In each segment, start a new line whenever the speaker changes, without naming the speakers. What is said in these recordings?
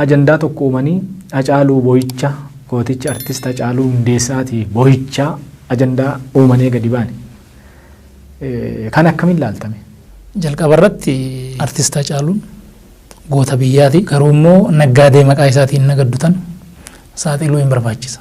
ajandaa tokko uumanii Hacaaluu boo'icha gooticha artist Hacaaluu Hundeessaati boo'ichaa ajandaa uumanee gadi baane. Kan akkamiin laaltame? Jalqaba
irratti artist Hacaaluun goota biyyaati. Garuu immoo naggaadee maqaa isaatiin nagaddutan saaxiluu hin barbaachisa.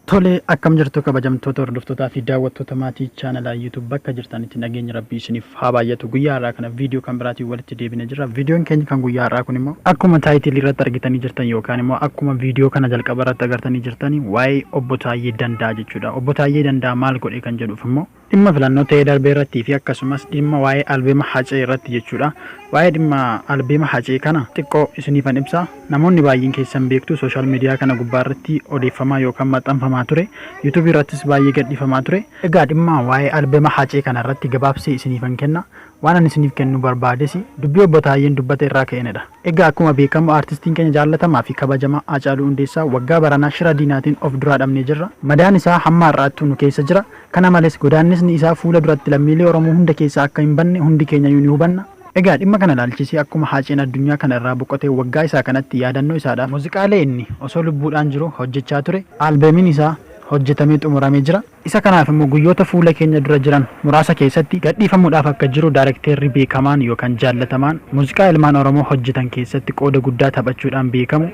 Tole akkam jirtu kabajamtoota hordoftootaa fi daawwattoota maatii chaanalaa YouTube bakka jirtanitti nageenyi rabbii isiniif haa baay'atu. Guyyaa har'aa kana viidiyoo kan biraatiin walitti deebinee jirra. Viidiyoon keenya kan guyyaa har'aa kun immoo akkuma taayitilii irratti argitanii jirtan yookaan immoo akkuma viidiyoo kana jalqaba irratti agartanii jirtan waa'ee obbo Taayyee Danda'a jechuudha. Obbo Taayyee Danda'a maal godhe kan jedhuuf immoo Dhimma filannoo ta'ee darbee irratti fi akkasumas dhimma waa'ee albeema Hacee irratti jechuudha. Waa'ee dhimma albeema Hacee kana xiqqoo isiniifan ibsa. Namoonni baay'een keessan beektu social media kana gubbaa irratti odeeffamaa yookaan maxxanfamaa ture. YouTube irrattis baay'ee gadhiifamaa ture. Egaa dhimma waa'ee albeema Hacee kana irratti gabaabsee isiniifan kenna. Waan ani isiniif kennuu barbaadesi dubbii Obbo Taayyeen dubbate irraa ka'eenidha. Egaa akkuma beekamu artistiin keenya jaallatamaa fi kabajamaa Haacaaluu Hundeessaa waggaa baranaa shira diinaatiin of duraa dhabnee jirra. Madaan isaa hamma har'aattuu nu keessa jira. Kana malees, godaannisni isaa fuula duratti lammiilee Oromoo hunda keessaa akka hin banne hundi keenyayyuu ni hubanna. Egaa dhimma kana ilaalchisee akkuma Haaceen addunyaa kana irraa boqotee waggaa isaa kanatti yaadannoo isaadhaaf muuziqaalee inni osoo lubbuudhaan jiruu hojjechaa ture, Albeemiin isaa hojjetamee xumuramee jira. Isa kanaaf immoo guyyoota fuula keenya dura jiran muraasa keessatti gadhiifamuudhaaf akka jiru daarekteerri beekamaan yookaan jaallatamaan muuziqaa ilmaan Oromoo hojjetan keessatti qooda guddaa taphachuudhaan beekamu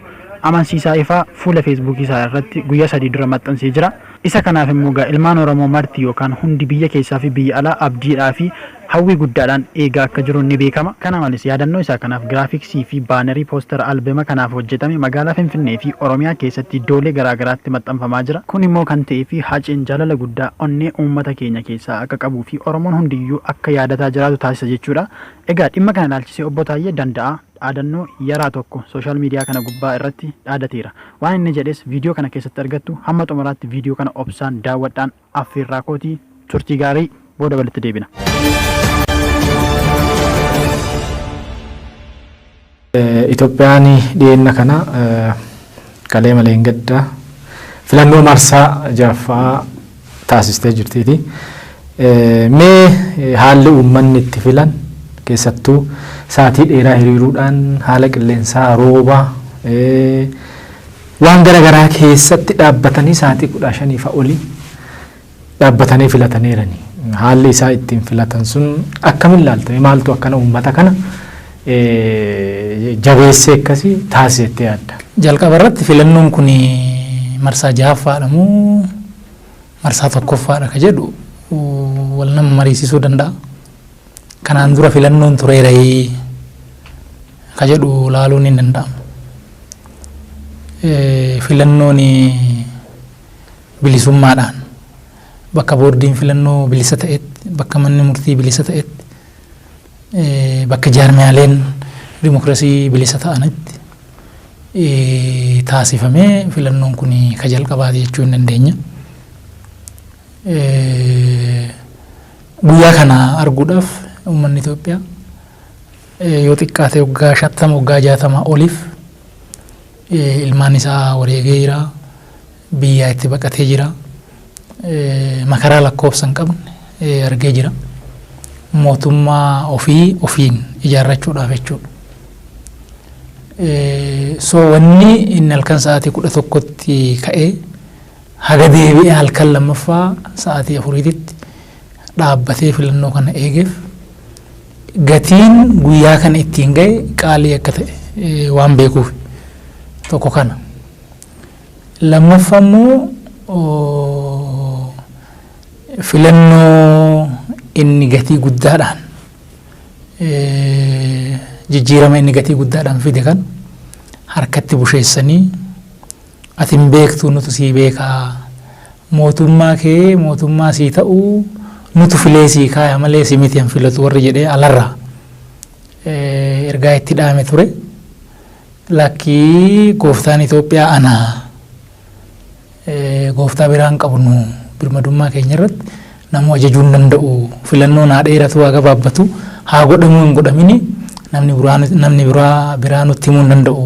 Amansiisaa Ifaa fuula Feesbuukii isaa irratti guyyaa sadii dura maxxansee jira. Isa kanaaf immoo egaa ilmaan Oromoo marti yookaan hundi biyya keessaa fi biyya alaa abdiidhaa fi hawwii guddaadhaan eegaa akka jiru ni beekama. Kana malees, yaadannoo isaa kanaaf giraafiksii fi baanarii poostara albema kanaaf hojjetame magaalaa Finfinnee fi Oromiyaa keessatti iddoolee garaa garaatti maxxanfamaa jira. Kun immoo kan ta'eef Haceen jaalala guddaa onnee uummata keenya keessaa akka qabuu fi Oromoon hundiyyuu akka yaadataa jiraatu taasisa jechuudha. Egaa dhimma kana ilaalchisee Obbo Taayyee Danda'aa. dhaadannoo yaraa tokko social media kana gubbaa irratti dhaadateera. Waan inni jedhes video kana keessatti argattu hamma xumuraatti video kana obsaan daawwadhaan affeerraa kooti. Turtii gaarii booda walitti deebina.
Itoophiyaan dhiyeenya kana kalee malee hin gadda filannoo marsaa jahaffaa taasistee jirtiiti. Mee haalli uummanni itti filan keessattuu saatii dheeraa hiriiruudhaan haala qilleensaa, rooba, waan gara garaa keessatti dhaabbatanii saatii 15 fa oli dhaabbatanii filataneerani. Haalli isaa ittiin filatan sun akkamin laalta? Mee maaltu akkana uummata kana jabeessee akkasi taasise jettee yaadda? Jalqaba irratti filannoon
kun marsaa jahaffaadha moo marsaa tokkoffaadha ka jedhu wal nama mariisisuu danda'a. Kanaan dura filannoon tureerayii ka jedhu laaluun hin danda'amu. Filannoon bilisummaadhaan bakka boordiin filannoo bilisa ta'etti bakka manni murtii bilisa ta'etti bakka jaarmiyaaleen dimokirasii bilisa ta'anitti taasifamee filannoon kun ka jalqabaati jechuu hin dandeenya. Guyyaa kana arguudhaaf uummanni Itoophiyaa yoo xiqqaate waggaa shantama waggaa jaatama oliif ilmaan isaa wareegee jira. biyyaa itti baqatee jira. Makaraa lakkoofsa hin qabne argee jira. Mootummaa ofii ofiin ijaarrachuudhaaf jechuudha. So wanni inni halkan sa'aatii kudha tokkotti ka'ee haga deebi'ee halkan lammaffaa sa'aatii afuriititti dhaabbatee filannoo kana eegeef gatiin guyyaa kana ittiin ga'e qaalii akka ta'e waan beekuuf tokko kana. Lammaffaa immoo filannoo inni gatii guddaadhaan jijjiirama inni gatii guddaadhaan fide kan harkatti busheessanii ati hin beektu nutu sii beekaa mootummaa kee mootummaa sii ta'u nutu filee sii kaaya malee si miti hin filatu warri jedhee alarraa ergaa itti dhaame ture. Lakkii gooftaan Itoophiyaa ana. Gooftaa biraa hin qabnu. Birmadummaa keenya irratti namuu ajajuu hin danda'u. Filannoon haa dheeratu haa gabaabbatu haa godhamuu hin godhamini namni biraa namni biraa biraa nutti himuu hin danda'u.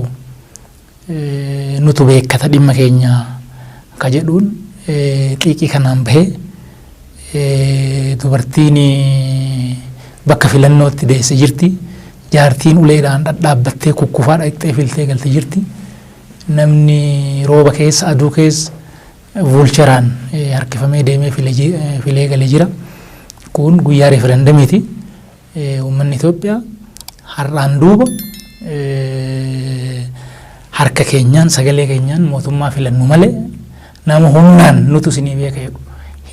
Nutu beekkata dhimma keenya ka jedhuun xiiqii kanaan bahee Dubartiin bakka filannootti deesse jirti. Jaartiin uleedhaan dhadhaabbattee kukkufaa dhaqxee filtee galte jirti. Namni rooba keessa aduu keessa vuulcheraan harkifamee deemee filee gale jira. Kun guyyaa referendamiiti. Uummanni Itoophiyaa har'aan duuba harka keenyaan sagalee keenyaan mootummaa filannu malee nama humnaan nutu isinii beeka jedhu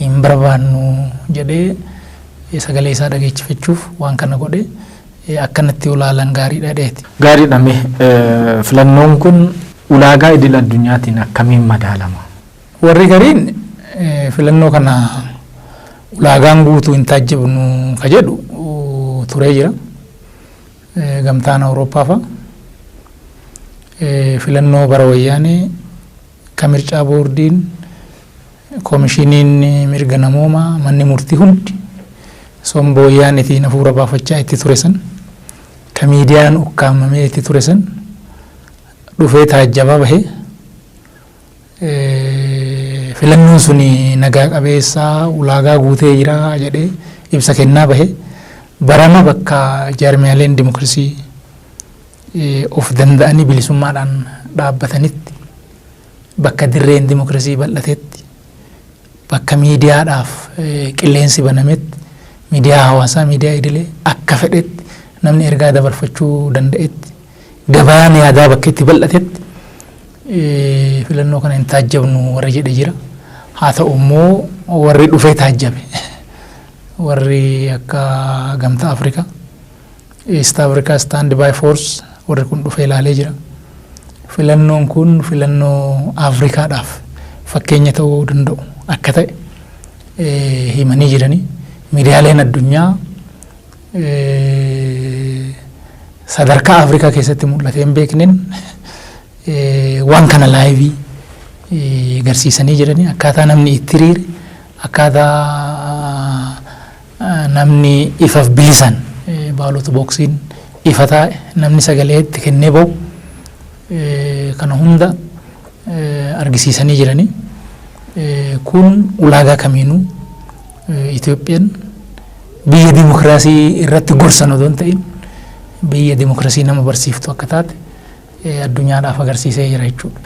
hin barbaannu jedhee sagalee isaa dhageechifachuuf waan kana godhe akkanatti ulaalan gaariidha jedheeti. Gaariidha mee
filannoon kun ulaagaa idil addunyaatiin akkamiin madaalama? Warri gariin
filannoo kana ulaagaan guutuu hin taajjabnu ka jedhu turee jira. Gamtaan Awurooppaa fa'a filannoo bara wayyaanee ka mircaa boordiin komishiniin mirga namoomaa manni murtii hundi somba wayyaanetiin hafuura baafachaa itti ture san ka miidiyaan ukkaamamee itti ture san dhufee taajjabaa bahee Filannoon sun nagaa qabeessa, ulaagaa guutee jira jedhee ibsa kennaa bahe. Barana bakka jaarmiyaaleen dimokirasii of danda'anii bilisummaadhaan dhaabbatanitti, bakka dirreen dimokirasii bal'atetti, Bakka miidiyaadhaaf qilleensi banametti, miidiyaa hawaasaa, miidiyaa idilee akka fedhetti namni ergaa dabarfachuu danda'etti, gabaan yaadaa bakka itti bal'atetti filannoo kana hin taajjabnu warri jedhe jira. Haa ta'u immoo warri dhufee taajjabe warri akka Gamtaa Afrikaa East Africa Stand by Force warri kun dhufee ilaalee jira. Filannoon kun filannoo Afrikaadhaaf fakkeenya ta'uu danda'u akka ta'e eh, himanii jiranii miidiyaaleen addunyaa eh, sadarkaa Afrikaa keessatti mul'atee hin beekneen eh, waan kana laayivii eh, garsiisanii jiranii akkaataa namni itti riire akkaataa Namni ifaf bilisan baalot boksiin ifa taa'e namni sagalee itti kennee ba'u kana hunda argisiisanii jiranii. Kun ulaagaa kamiinuu Itoophiyaan biyya dimokiraasii irratti gorsan odoo hin ta'in biyya dimokiraasii nama barsiiftu akka taate addunyaadhaaf agarsiisee jira jechuudha.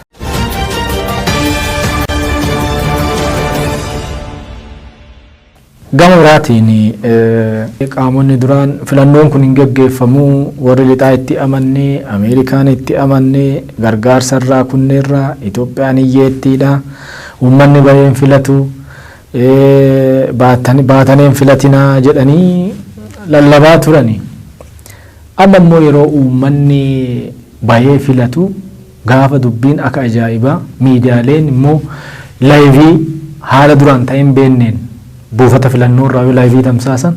Gama biraatiin qaamonni duraan filannoon kun hin geggeeffamu, warri lixaa itti amanne, Ameerikaan itti amanne, gargaarsa irraa kunneerra, Itoophiyaan hiyyeettiidha, uummanni bahee hin filatu, baatanii hin filatinaa jedhanii lallabaa turani. Amma immoo yeroo uummanni bahee filatu, Gaafa dubbiin aka ajaa'ibaa miidiyaaleen immoo laayivii haala duraan ta'ee hin beenneen buufata filannoo irraa yoo laayivii tamsaasan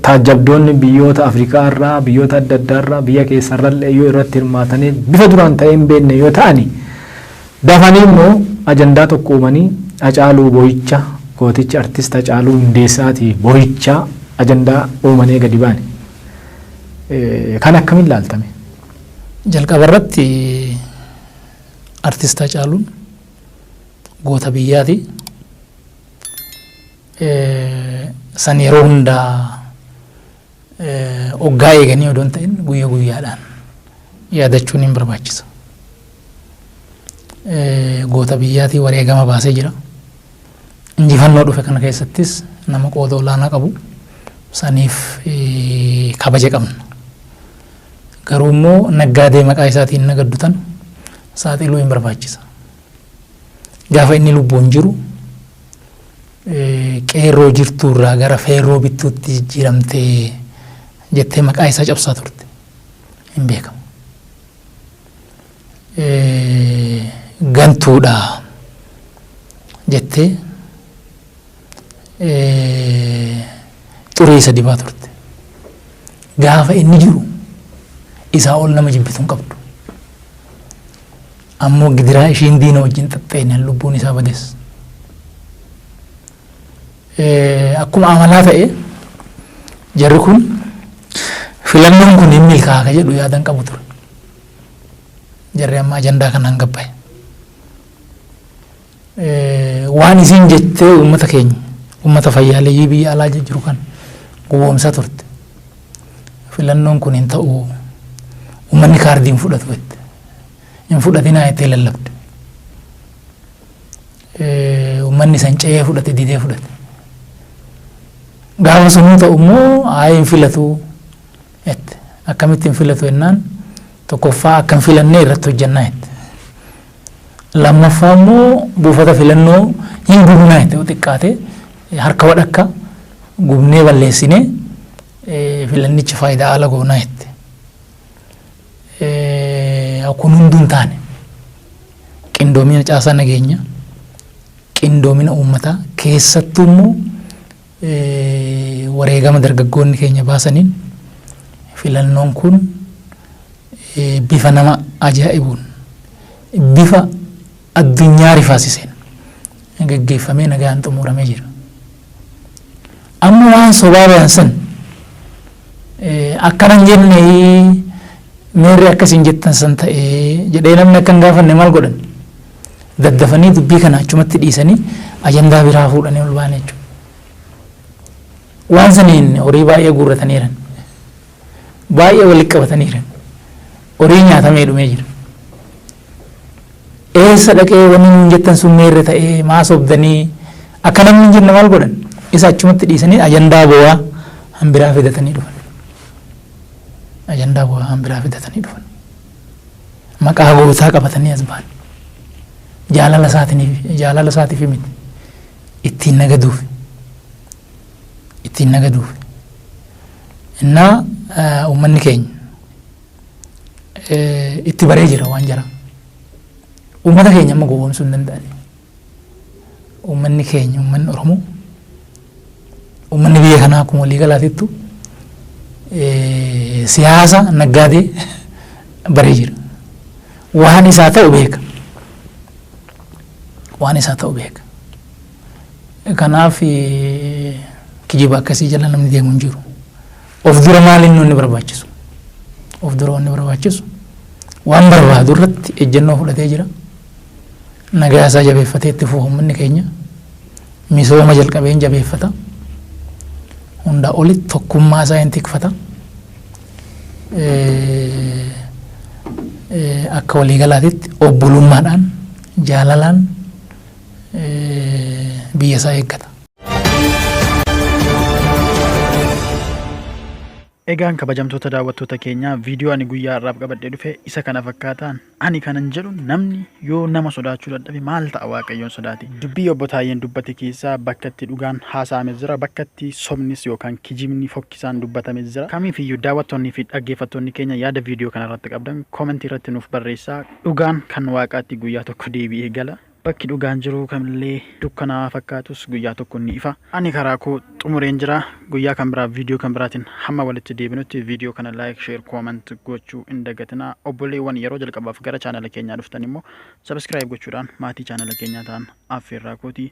taajjabdoonni biyyoota Afrikaa irraa, biyyoota adda addaa irraa, biyya keessa irrallee yoo irratti hirmaatanii bifa duraan ta'ee hin beenne yoo ta'ani dafanii immoo ajandaa tokko uumanii Hacaaluu boo'icha gooticha artist Hacaaluu Hundeessaatii boo'ichaa ajandaa uumanii gadi baane. Kana akkamiin ilaalta mee? Jalqaba
irratti artist Hacaaluun goota biyyaati. San yeroo hundaa oggaa eeganii odoo hin ta'in guyya guyyaadhaan yaadachuun hin barbaachisa. Goota biyyaatii wareegama baasee jira. Injifannoo dhufe kana keessattis nama qooda olaanaa qabu saniif kabaja qabna. Garuu immoo naggaadee maqaa isaatiin nagaddu tan saaxiluu hin barbaachisa. Gaafa inni lubbuun jiru qeerroo jirtuu irraa gara feerroo bittuutti jijjiiramtee jettee maqaa isaa cabsaa turte hin beekamu. gantuudha jettee xurii isa dibaa turte. Gaafa inni jiru isaa ol nama jibbitu hin qabdu. Ammoo gidiraa ishiin diina wajjin xaxxeenyaan lubbuun isaa bades. Akkuma amalaa ta'e jarri kun filannoon kun hin milkaa'a jedhu yaadan qabu ture. Jarri amma ajandaa kanaan gabbaye. Waan isiin jettee uummata keenya uummata fayyaaleeyyii biyya alaa jiru kan gowwoomsaa turte. Filannoon kun hin ta'u uummanni kaardii hin fudhatu jette. Hin fudhatinaa jettee lallabde. Uummanni san ce'ee fudhate didee fudhate. Gaafa sun hin ta'u immoo haa hin filatuu jette. Akkamitti hin filatu jennaan tokkoffaa akka hin filannee irratti hojjannaa jette. Lammaffaa immoo buufata filannoo hin gubnaa jette yoo xiqqaate harka wadhakka gubnee balleessine filannicha faayidaa ala goonaa jette. Kun hunduu hin taane qindoomina caasaa nageenya qindoomina uummataa keessattuu immoo Wareegama dargaggoonni keenya baasaniin filannoon kun bifa nama ajaa'ibuun, bifa addunyaa rifaasiseen gaggeeffamee nagaan xumuuramee jira. Amma waan sobaa bayan san akkana hin jenne meerre akka isin jettan san ta'ee jedhee namni akka hin gaafanne maal godhan? daddafanii dubbii kana achumatti dhiisanii ajandaa biraa fuudhanii ol ba'an jechuudha. Waan saniin horii baay'ee guurrataniiran. Baay'ee walitti qabataniiran. Horii nyaatamee dhumee jira. Eessa dhaqee wanni nuun jettan sun meerre ta'ee maa sobdanii akka namni hin jenne maal godhan isa achumatti dhiisanii ajandaa bowaa hanbiraa fidatanii dhufan. Ajandaa bowaa hanbiraa fidatanii dhufan. Maqaa gootaa qabatanii as bahan. Jaalala isaatiniif, jaalala isaatiif miti. Ittiin nagaduuf. Ittiin nagaduuf. Innaa eh, uummanni keenya eh, itti baree jira waan jara. Uummata keenya amma gowwoomsuu hin danda'ani. Uummanni keenya uummanni Oromoo uummanni biyya kanaa akkuma walii galaatittu siyaasa naggaadee baree jira. Waan isaa ta'u beeka. Waan isaa ta'u beeka. Kanaaf kijiba akkasii jala namni deemu hin jiru. Of dura maaliin inni barbaachisu? Of dura wanni barbaachisu waan barbaadu irratti ejjennoo fudhatee jira. Nagaa isaa jabeeffatee itti fufa ummanni keenya. Misooma jalqabee hin jabeeffata. Hundaa olitti tokkummaa isaa hin tikfata. Akka waliigalaatitti obbolummaadhaan jaalalaan biyya isaa eeggata.
Egaan kabajamtoota daawwattoota keenyaa viidiyoo ani guyyaa har'aaf qabadhee dhufe isa kana fakkaataan ani kanan jedhu namni yoo nama sodaachuu dadhabe maal ta'a waaqayyoon sodaate dubbii obbo Taayyeen dubbate keessaa bakka itti dhugaan haasa'ame jira bakka itti sobnis yookaan kijibni fokkisaan dubbatame jira kamiif iyyuu daawwattoonni fi dhaggeeffattoonni keenya yaada viidiyoo kana irratti qabdan koomentii irratti nuuf barreessaa dhugaan kan waaqaatti guyyaa tokko deebi'ee gala Bakki dhugaan jiru kamillee dukkanaa'aa fakkaatus guyyaa tokko ni ifa. Ani karaa koo xumureen jira. Guyyaa kan biraa viidiyoo kan biraatiin hamma walitti deebinutti viidiyoo kana like, share, comment gochuu hin dagatinaa. Obboleewwan yeroo jalqabaaf gara chaanala keenyaa dhuftan immoo subscribe gochuudhaan maatii chaanala keenyaa ta'an affeerraa kooti.